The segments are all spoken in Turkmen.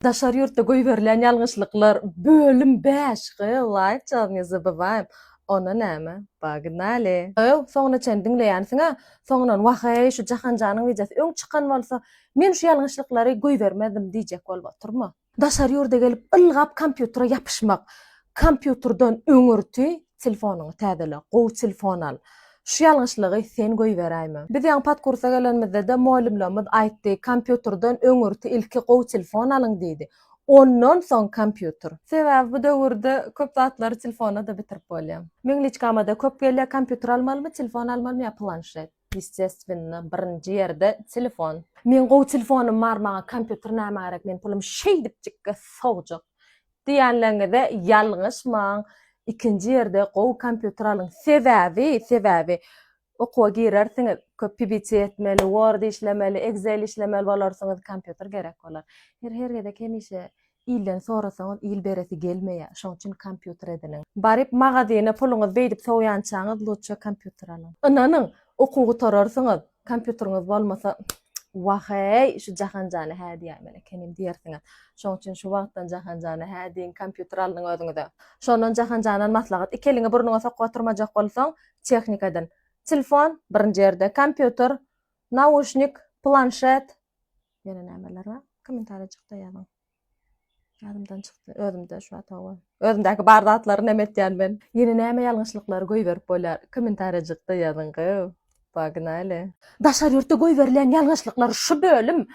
Daşary ýurtda goýberilýän ýalňyşlyklar bölüm bäş Gyýw laýyk job ne zabywayim Ona näme Pognaly. Gyýw soňuna çen diňleýänsiňä soňundan waheý şu Jahanjanyň wideosy öň çykan bolsa men şu ýalňyşlyklary goýbermezdim diýjek bolup otyrma. Daşary ýurda gelip ylgap kompýutere ýapyşmak Kompýuterden öňürti telefonyňy täzele, gowy telefon al. Şu ýalňyşlygy sen goýberäýme. Biz ýaňy podkursa gelenimizde-de mugallymlarymyz aýtdy, kompýuterden öňürti ilki gowy telefon alyň diýdi. Ondan soň kompýuter. Sebäbi bu döwürde köp zatlary telefonda-da bitirip bolýar. Meň liçkama-da köp gelýär, kompýuter almalymy, telefon almalymy ýa planşet? Ýesteswенно, birinji ýerde telefon. Meň gowy telefonym bar, maňa kompýuter nämä gerek, men pulum şeýdipjikge sogjak. Diýenleňize ýalňyşmaň ikinji ýerde gowy kompýuter alyň sebäbi sebäbi okuwa girersiňiz köp pbc etmeli word işlemeli excel işlemeli bolarsyňyz kompýuter gerek bolar her her gezek hemişe ilden sorasaňyz il beresi gelmeýär şoň üçin kompýuter ediniň baryp magazyna puluňyz beýdip sowýançaňyz lutşa kompýuter alyň ynanyň okuw gutararsyňyz Kompýuteriňiz bolmasa Wah-eý, şu Jahanjana hä diýäýmeli ekenim diýersiňiz. Şonuň üçin şu wagtdan Jahanjana hä diýiň, kompýuter alnyň özüňize. Şondan Jahanjanan maslahat, iki eliňi burnuňa sokup oturmajak bolsaň, tehnika edin. Telefon, birinji ýerde, kompýuter, nauşnik, planşet, ýene nämeler bar? Kommentariýajykda ýazyň. Ýadymdan çykdy. Özümde şu wagt hawa. Özümdäki bar zatlary näme etýän men? Ýene näme ýalňyşlyklary goýberip bolýar? Kommentarýajykda ýazyň gow. Pognaly. Daşary ýurtda goýberilýän ýalňyşlyklar şu bölüm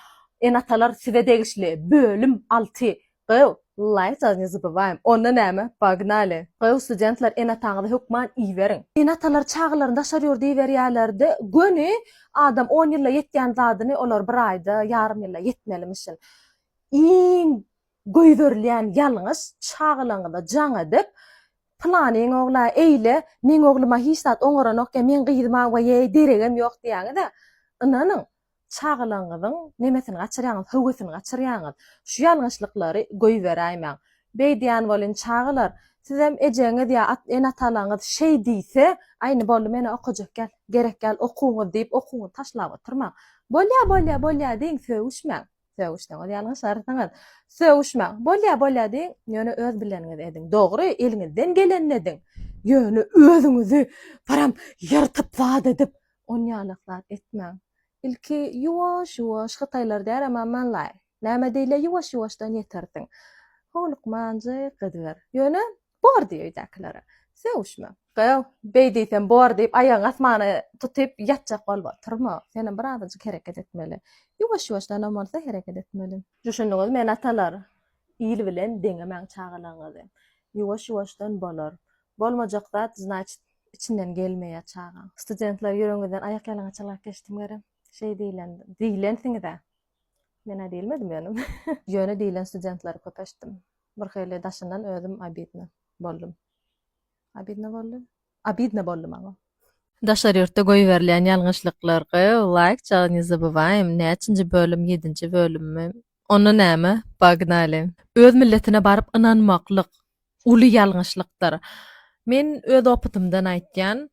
Ene-atalar size degişli bölüm alty gow. Laýkja ne zabywaýym. Onda näme? Pognaly. Gow studentler ene-ataňyzy hökman iberiň. Ene-atalar çagalaryny daşary ýurda iberýärlerde göni adam on ýylda ýetýän zadyny olar bir aýda, ýarym ýylda ýetmelimişin. iň goýberilýän ýalňyş çagalaňyza jaň edip, Pylanyň ogla eýle, meň ogluma hiç zat oňaranok ýa meň gyzyma weýeý deregem ýok diýýäňiz-ä. Ynanyň, çagalaňyzyň nemesini gaçyrýaňyz, höwesini gaçyrýaňyz. Şu ýalňyşlyklary goýberäýmäň. Beýdýän welin, çagalar, sizem ejeňiz ýa ene-atalaňyz şeý diýse, Aýny, boldy, men-ä okajak däl, gerek däl okuwyňyz diýip, okuwyňyzy taşlap oturmaň. Bolýa, bolýa, bolýa diýiň, sögüşmäň. Sögüşseňiz ýalňyşarsyňyz. Sögüşmäň. Bolýa, bolýa diýiň, ýöne öz bileniňizi ediň. Dogry, eliňizden gelenini ediň. Ýöne özüňizi param ýyrtyp zat edip, onýalak zat etmäň. Ilki ýuwaş-ýuwaş, hytaýlar däl, emma Manlaý. Näme diýilýär, ýuwaş-ýuwaşdan ýetersiň. Howlukmanjyk ediber. Ýöne Bor diý öýdäkilere. Sögüşme. Gyz, Beý diýsem bor diýip, aýagyňy asmana tutyp ýatjak bolup oturma. Senem birazajyk hereket etmeli. Ýuwaş-ýuwaşdanam bolsa hereket etmeli. Düşündiňiz men atalar. Il bilen deňemäň çagalaňyzy. Ýuwaş-ýuwaşdan bolar. Bolmajak zat znaçit içinden gelmeýär çagaň. Studentler ýüregiňizden aýak ýalaňaç ylgap geçdim görem. Şeý diýlen, diýlensiňiz-ä. Men-ä diýilmedim ýöne. Ýöne diýlen studentleri köp eşitdim. Bir hili daşyndan özüm obidno boldum. Obidno boldy? Obidno boldy maňa. Daşary ýurtda goýberilýän ýalňyşlyklar gyýw laýk jagy ne zabywaýym näçinji bölüm ýedinji bölümmi onda näme pognaly. Öz milletine baryp ynanmaklyk uly ýalňyşlykdyr. Men öz opytymdan aýtýan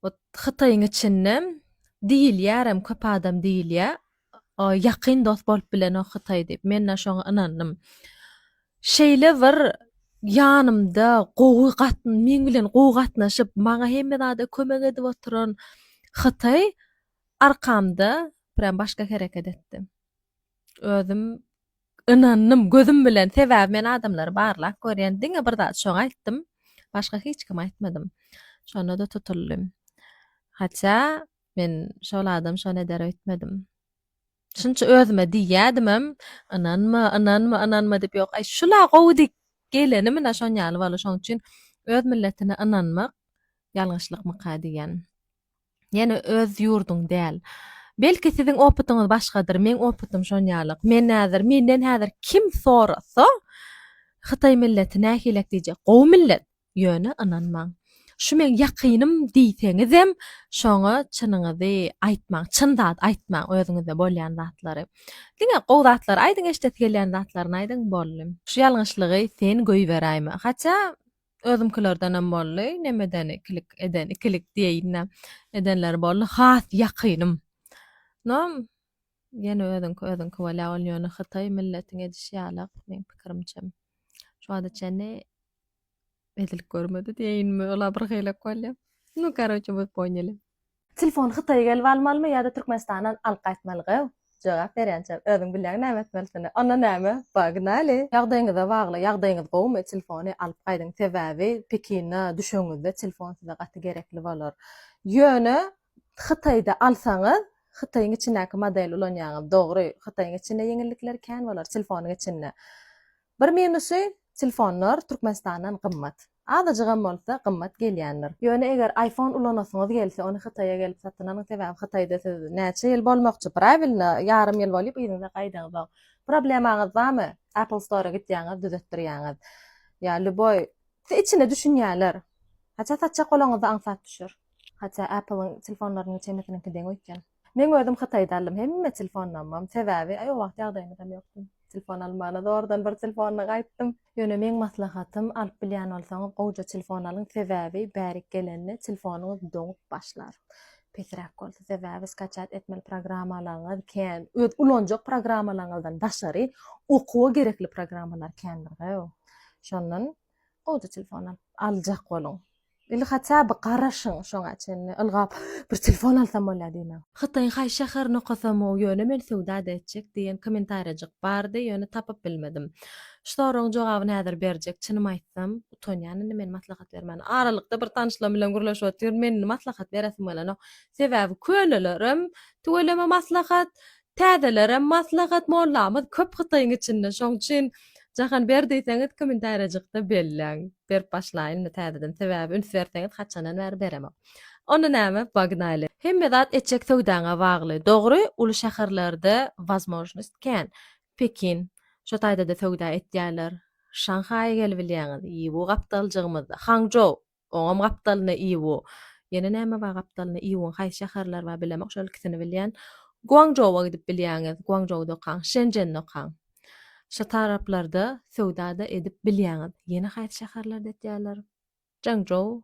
Ot hytaýyň içinde diýilýärem köp adam diýilýä ýakyn dost bolup bilenok hytaý diýip menda şoňa ynandym şeýle bir ýanymda gowy gat meň bilen gowy gatnaşyp maňa hemme zada kömek edip oturan hytaý arkamda prýam başga hereket etdi özüm Ynandym gözüm bilen sebäbi men adamlary barlap görýän diňe bir zat şoňa aýtdym başga hiç kime aýtmadym şonda-da tutuldy hatça men şol adam şony eder öýtmedim şunça özüme diýýädimem ynanma ynanma ynanma diýip ýok aý şula gowy diýip geleni munä şon ýaly boldy şoň üçin öz milletine ynanmak ýalňyşlykmyka diýýän. Ýene öz ýurduň däl. Belki siziň opytyňyz başgadyr, meň opytym şonýalyk. Men häzir, menden häzir kim sorasa, Hytaý milleti nähilek diýjek, gowy millet. Ýöne ynanmaň. Şu meň ýakynym diýseňizem, şoňa çynyňyzy aýtmaň, çyn zat aýtmaň, özüňizde bolýan zatlary. Diňe gowy zatlary aýdyň, eşidesi gelýän zatlaryny aýdyň, boldy. Şu ýalňyşlygy sen goýberäýme. Hatja Özümkilerdenem boldy. Nemedeni klik eden, ikilik diýeýin-dä, edenleri boldy. Has ýakynym. No, ýene özüňki, özüňki bolýar. Ol ýöne hytaý milletiň edişi ýaly-ak, meň pikirimçe. Şu wagta çenli edilip görmedi diýeýinmi, olar birhili-ak bolýar. No, karoçe, we ponyali. Telefony hytaýa gelip almalymy ýa-da türkmenistandan alyp gaýtmalygy? Jogap berýänçä özüň bilýäň näme etmelisini. Onda näme? Pognaly! Ýagdaýyňyza bagly, ýagdaýyňyz gowumy telefony alyp gaýdyň sebäbi Pekine düşeňizde telefon size gaty gerekli bolar. Ýöne hytaýda alsaňyz hytaýyň içindäki model ulanýaňyz dogry hytaýyň içinde ýeňillikleri kän bolar telefonyň içinde. Bir minusy telefonlar türkmenistandan gymmat. Azajygam bolsa gymmat gelýändir. Ýöne eger iPhone ulanasyňyz gelse ony Hytaýa gelip satyn alyň sebäbi Hytaýda siz näçe ýyl bolmakçy prawilno ýarym ýyl bolyp yzyňyza gaýdaňyzoň problemaňyz bamy Apple Store gitýäňiz düzetdirýäňiz ýa lýuboý size içinde düşünýäler haçan satjak bolaňyzy aňsat düşer haçan Appleň telefonlarynyň çemesiniňki deň öýtýän. Meň özüm hytaýda aldym hemme telfonamam sebäbi o wagt ýagdaýymyzam ýokdy telefon almagyna zordan bir telefonla gaýtdym. Ýöne meň maslahatym alyp bilýän bolsaňyz gowja telefon alyň sebäbi bärik gelende telefonyňyz doňup başlar pesräk bolsa sebäbi skaçat etmeli programmalaryňyz kän öz ulanjak programmalaryňyzdan daşary okuwa gerekli programmalar kändir gow şondan Gowja telefon alyp aljak boluň. Ili haçan bir garaşyň şoňa çenli ylgap bir telefon alsam bolýa diýmäň. Hytaýyň haýsy şäherini okasamow ýöne men söwdada etjek diýen komentarýajyk bardy ýöne tapyp bilmedim. Şu soragyň jogabyny häzir berjek çynym aýtsam utanýan indi men maslahat bermäne aralykda bir tanyşlarym bilen gürleşip otyryn men indi maslahat beresim gelenok sebäbi könelerem tüweleme maslahat Täzelerem maslahat mollamyz köp hytaýyň içinde şoň üçin Jahan ber diýseňiz kommentariýajykda belläň berip başlaýynmy täzeden sebäbi üns berseňiz haçandan bäri beremok. Onda näme pognaly. Hemme zat etjek söwdaňa bagly. Dogry uly şäherlerde wazmožnost kän. Pekin. Şo taýdada söwda etýärler. Şanhaýa gelibilýäňiz. Ýibu gapdaljygymyzda. Hangžou. Oňam gapdalyna Iwo. Ýene näme bar gapdalyna Iwoň haýsy şäherler bar bilemok şol ikisini bilýän. Guangzhouwa gidip bilýäňiz Guangzhouda okaň Şenžende okaň. Şo taraplarda söwdada edip bilýäňiz. Ýene haýsy şäherlerde etýärler? Çžangçžou.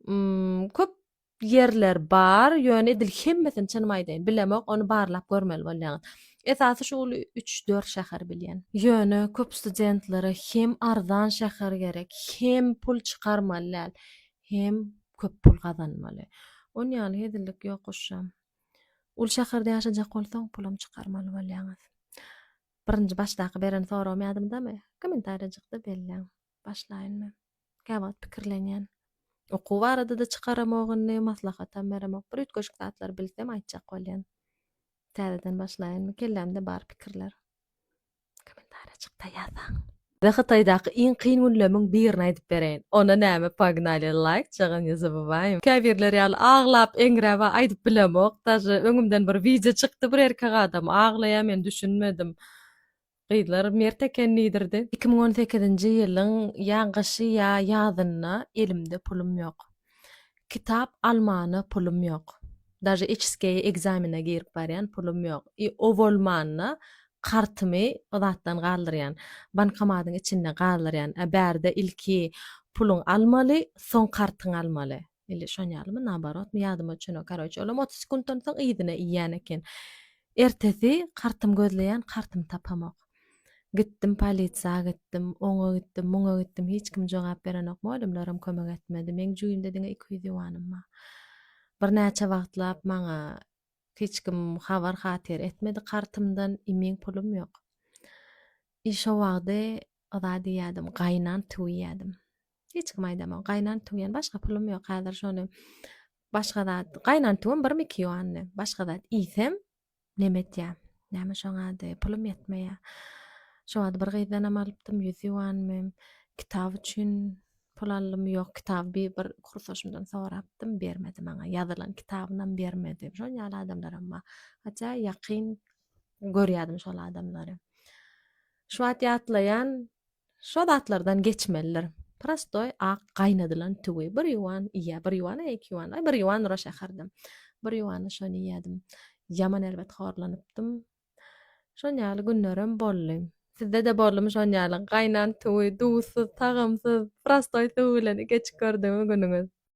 Hmmm köp ýerler bar, ýöne edil hemmesini çynym aýdaýyn, bilemok, ony barlap görmeli bolýaňyz. Esasy şu uly üç-dört şäheri bilýän. Ýöne köp studentlere hem arzan şäher gerek, hem pul çykarmaly däl, hem köp pul gazanmaly. Ony ýaly hezillik ýok goşjam. Uly şäherde ýaşajak bolsaň, pulam çykarmaly bolýaňyz. Birinji başdaky beren soragym ýadyňdamy? Kommentariýajykda belläň. Başlaýyn men. Käwagt pikirlenýän. Okuw barada-da çykaramok indi, maslahatam beremok. Bir üýtgeşik zatlar bilsem, aýtjak bolýan. Täzeden başlaýynmy? Kellämde bar pikirler. Kommentariýajykda ýazaň. Size Hytaýdaky iň kyn günlemiň birini aýdyp bereýin. Onda näme pognaly laýk jaga ne zabywaýym. Käbirler ýaly aglap eňräba aýdyp bilemok. Daže öňümden bir wideo çykdy bir erkek adam aglaýa men düşünmedim. Gyzlar mert eken diýdirdi. Iki müň on sekizinji ýylyň ýa gyşy ýa ýazynda elimde pulum ýok. Kitap almana pulum ýok. Daže içskeýe ekzamene girip barýan pulum ýok. I o bolmanda kartymy o zatdan galdyrýan. Bankomatyň içinde galdyrýan. A bärde ilki puluň almaly, soň kartyň almaly. Ili şon ýalymy, naborotmy, ýadyma düşenok. Karoçe, olam otuz sekuntdan soň yzyna iýýän eken. Ertesi kartymy gözleýän, kartymy tapamok. Gitdim polisiýa gitdim, oňa gitdim, muňa gitdim, hiç kim jogap berenok. Mugallymlaram kömek etmedi. Meň jübimde diňe iki ýüz ýuanym bar. Birnäçe wagtlap maňa hiç kim habar-hatyr etmedi kartymdan, imin pulum ýok. I şo wagdy yza diýýädim, gaýnan tüwýädim. Hiç kim aýdamok. Gaýnan tüwýen başga pulum ýok. Häzir şony başga zat, gaýnan tüwim birmi iki ýuandy. Başga zat iýsem, neme etýä? Näme şoň ady, pulum ýetmeýä. Şo wagt bir gyzdanam alypdym, ýüz ýuanmy. Kitap üçin pul aldymy, ýok, kitaby bi bir kursaşymdan sorapdym, bermedi maňa. Ýazylan kitabynam bermedi. Şon ýaly adamlaram bar. Hatda ýakyn görýärdim şol adamlary. Şu wagt ýatlaýan, Şo zatlardan geçmelidir. Prostoý ak gaýnadylan tüwi bir ýuan iýýä, bir ýuan, e, iki ýuan, aý, bir ýuan ura şäherdem. Bir ýuana şony iýýädim. Ýaman erbet horlanypdym. Şon ýaly günlerem boldy. Sizde-de boldumy şon ýaly gaýnan tüwi, duzsuz, tagamsyz, prostoý tüwi bilen geç gördümi günüňiz?